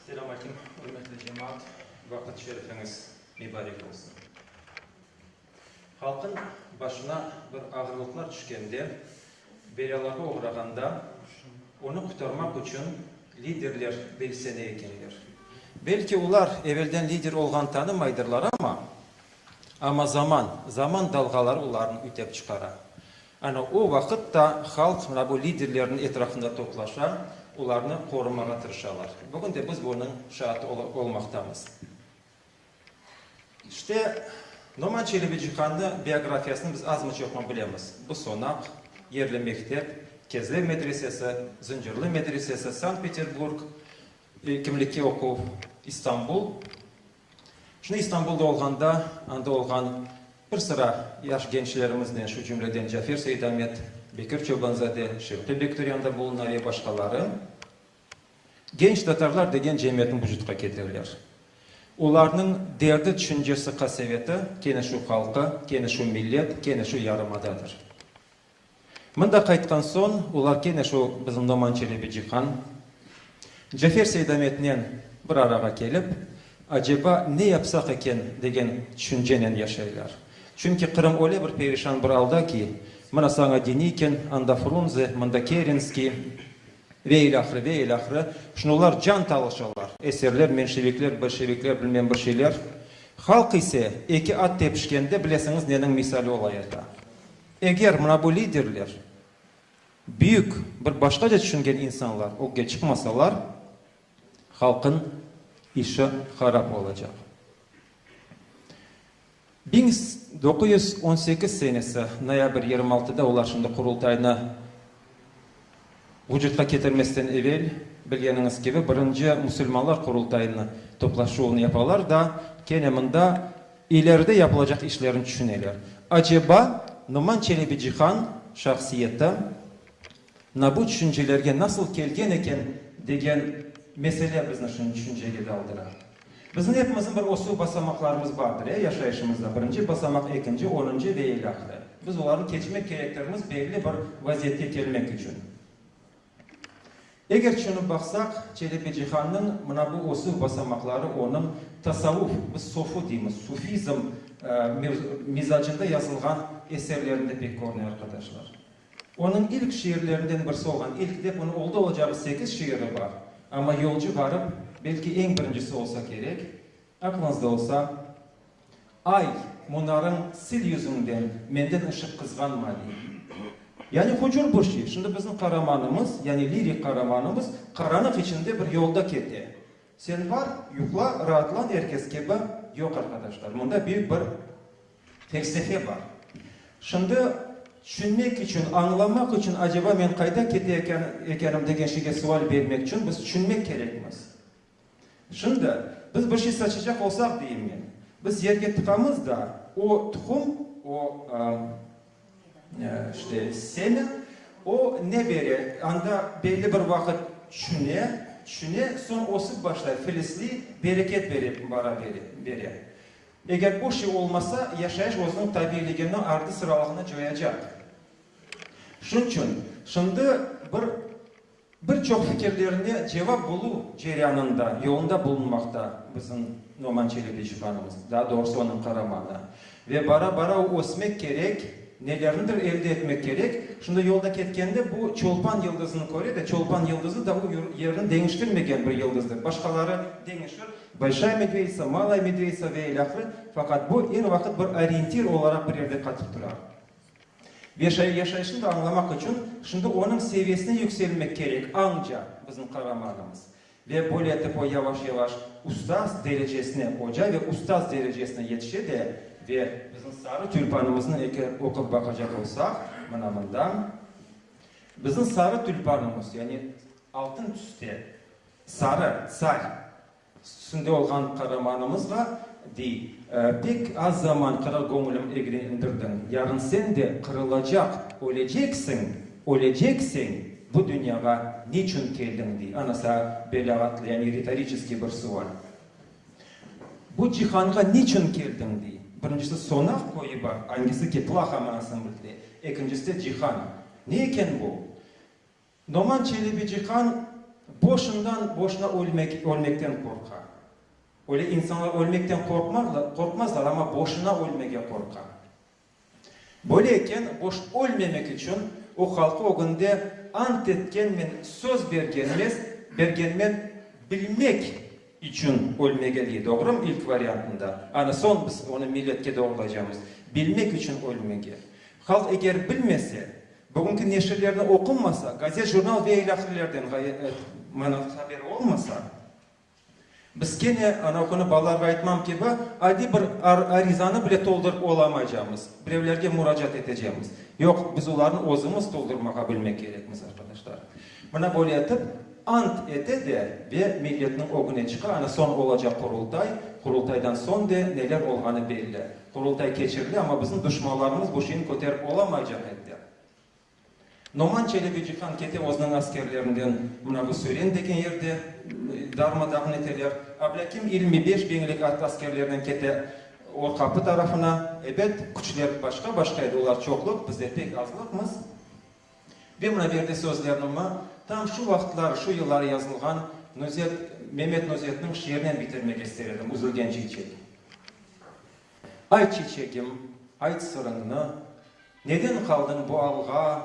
Selam aleyküm, ürmetli cemaat! Vaqıt şerifiñiz mibarek olsun! Halqnıñ başına bir ağırlıqlar tüşkende, Belâlarğa oğrağanda, onı qutarmaq içün liderler belsene ekenler. Belki olar evelden lider olğanı tanımaydırlar, amma, amma zaman, zaman dalğaları olarnı ütep çıqara. Ana o vaqıt da halq mına bu liderlerniñ etrafında toplaşa, olarnı qorumağa tırışalar. Bugün de biz bunıñ şaatı olmaqtamız. İşte, Noman Çelebicihan'nı biografiyasını biz azmı çoqmı bilemiz. Bu sonaq, yerli mektep, Kezlev medresesi, Zıncırlı medresesi, Sankt-Peterburg, kimlikke oquv, İstanbul. Şimdi İstanbul'da olğanda, anda olğan bir sıra yaş gençlerimiznen, şu cümleden Cafer Seyidamet, Bekir Çobanzade, Şevki Bekturyan da buluna ve başqaları. Genç tatarlar degen cemiyetni vucutqa ketiriler. Olarnıñ derdi, tüşüncesi, qaseveti, kene şu halqı, kene şu millet, kene şu yarımadadır. Mında qaytqan soñ, olar kene şu bizim Noman Çelebi Cihan, Cafer Seydametnen bir arağa kelip, aceba ne yapsaq eken degen tüşüncenen yaşaylar. Çünki Qırım öyle bir perişan bir alda ki, mına saña Denikın, anda Frunze, mında Kerenskiy, Ve ilâhre, ve ilâhre. Şimdi olar can talışalar, eserler, menşevikler, bolşevikler, bilmem bir şeyler. Halq ise, eki at tepişkende, bilesiñiz neniñ misali olay eta. Eger mına bu liderler, büyük, bir başqaca tüşüngen insanlar ögge çıqmasalar, halqnıñ işi harap olacaq. Biñ doquz yüz on sekiz senesi noyabr yirmi altıda olar şimdi Qurultaynı vucutqa ketirmesten evel, bilgeniñiz kibi, birinci musulmanlar Qurultayını toplaşuvını yapalar da, kene mında ileride yapılacaq işlerni tüşüneler. Aceba Noman Çelebi Cihan şahsiyeti na bu tüşüncelerge nasıl kelgen eken degen mesele bizni şimdi tüşüncege daldıra. Bizim epimizin bir ösüv basamaqlarımız bardır, ya, yaşayışımızda, birinci basamaq, ekinci, onuncu ve ilâhre. Biz olarnı keçmek kerektirmiz belli bir vaziyetke kelmek içün. Eger tüşünip baqsaq, Çelebicihannıñ mına bu ösüv basamaqları onıñ tasavuf, biz sofu deymiz, sufizm, mizacında yazılğan eserlerinde pek körüne, arqadaşlar. Onıñ ilk şiirlerinden birisi olğan İlk dep onıñ oldı-olacağı sekiz şiiri bar, amma Yolcu barıp, belki eñ birincisi olsa kerek, aqlıñızda olsa, Ay, munarıñ sil yüzüñden, menden ışıq qızğan mavi. Yani hucur bu şiir. Şimdi bizim qaramanımız, yani lirik qaramanımız qaranıq içinde bir yolda kete. Sen bar, yuqla, raatlan er kes kibi, yoq, arqadaşlar, mında büyük bir, Felsefe bar. Şimdi tüşünmek içün, añlamaq içün, aceba men qayda kete ekenim degen şeyge sual bermek içün biz tüşünmek kerekmiz. Şimdi biz bir şey saçacaq olsaq, deyim men, biz yerge tıqamız da, o tuqum, o işte semya, o ne bere, anda belli bir vaqıt tüşüne, tüşüne, soñ ösip başlay, filizliy, bereket bere, bara bere. Eger bu şey olmasa, yaşayış özüniñ tabiyligini, ardı-sıralıgını coyacaq. Şunıñ içün, şimdi bir bir çoq fikirlerine cevap buluv ceryanında, yolunda bulunmaqta bizim Noman Çelebi şubanımız, daa doğrusı onıñ qaramanı. Ve bara-bara o ösmek kerek, nelernidir elde etmek kerek. Şimdi yolda ketkende bu çolpan yıldızını köre de, çolpan yıldızı da o yerini deñiştirmegen bir yıldızdır. Başqaları deñişir, Bolşaya Medveditsa, Malaya Medveditsa ve ilâhre, faqat bu, er vaqıt bir oryentir olaraq bir yerde qatıp tura. Ve yaşayışını da añlamaq içün şimdi onıñ seviyesine yükselmek kerek, añca bizim qahramanımız. Ve böyle etip o yavaş-yavaş ustaz derecesine, oca ve ustaz derecesine yetişe de, ve bizim sarı tülpanımıznı eger oqup baqacaq olsaq, mına mında, bizim sarı tülpanımız, yani altın tüste, Sarı, tsar, üstünde olğan qaramanımızğa dey, Pek az zaman qıra göñülim egri indirdiñ, yarın sen de qırılacaq, öleceksiñ, ölecekseñ, bu dünyağa niçün keldiñ, dey. Ana saña belâğatlı, yani ritoriçeskiy bir sual. Bu cihanğa niçün keldiñ, dey. Birincisi, sonaq koyu bar, angisi ki, plaha manasını bildire, ekincisi de cihan. Ne eken bu? Noman Çelebiciqan boşundan-boşuna ölmekten qorqa. Öyle insanlar ölmekten qorqmazlar, amma boşuna ölmege qorqa. Böyle eken, boş ölmemek içün o halqı ögünde ant etkenmen, söz bergenmen bilmek içün ölmege dey. Doğrumı? İlk variantında. Ana soñ biz onı milletke doğrulaycamız. Bilmek içün ölmege. Halq eger bilmese, Bugünki neşirlerni oqunmasa, gazet, jurnal ve ilâhrelerden ğayet manav haber olmasa, biz kene, anav künü balalarğa aytmam kibi, adiy bir arizanı bile toldurıp olamaycağımız, birevlerge muracaat etecemiz. Yoq, biz olarnı özümiz toldurmağa bilmek kerekmiz, arqadaşlar. Mına böyle etip, ant ete de ve milletniñ ögüne çıqa, ana soñ olacaq Qurultay, Qurultaydan soñ de neler olğanı belli. Qurultay keçirile, amma bizim duşmanlarımız bu şeyni köterip olamaycaq ediler. Noman Çelebicihan kete özüniñ askerlerinden mına bu Sören degen yerde darma-dağın eteler. Ablâkim yirmi beş biñlik askerlerinen kete Orqapı tarafına. Ebet, küçler başqa-başqa edi, olar çoqluq, bizler pek azlıqmız. Ve mına berdi sözlernimi tam şu vaqıtlar, şu yılları yazılğan Nuzet, Memet Nuzetniñ şiirinen bitirmek ister edim, Üzülgen çiçek. Ayt, çiçegim, ayt sırıñnı, Neden qaldıñ bu alğa?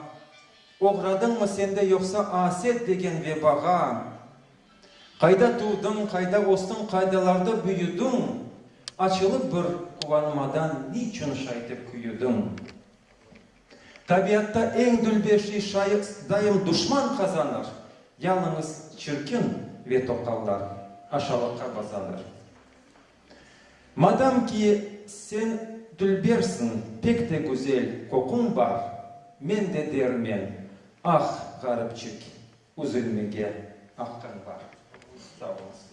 Oğradıñmı sen de yoqsa Aset degen vebağa? Qayda tuvdıñ, qayda östüñ, Qaydalarda büyüdiñ? Açılıp bir quvanmadan Niçün şaytep küyüdiñ? Tabiatta eñ dülber şey şayı daim duşman qazanır, yalıñız çirkin ve toqallar aşalıqqa bazanır. Madam ki, sen dülbersiñ, pek de güzel qoquñ bar, men de dermen, ah, ğaripçik, üzülmege aqqıñ bar. Sağ oluñız.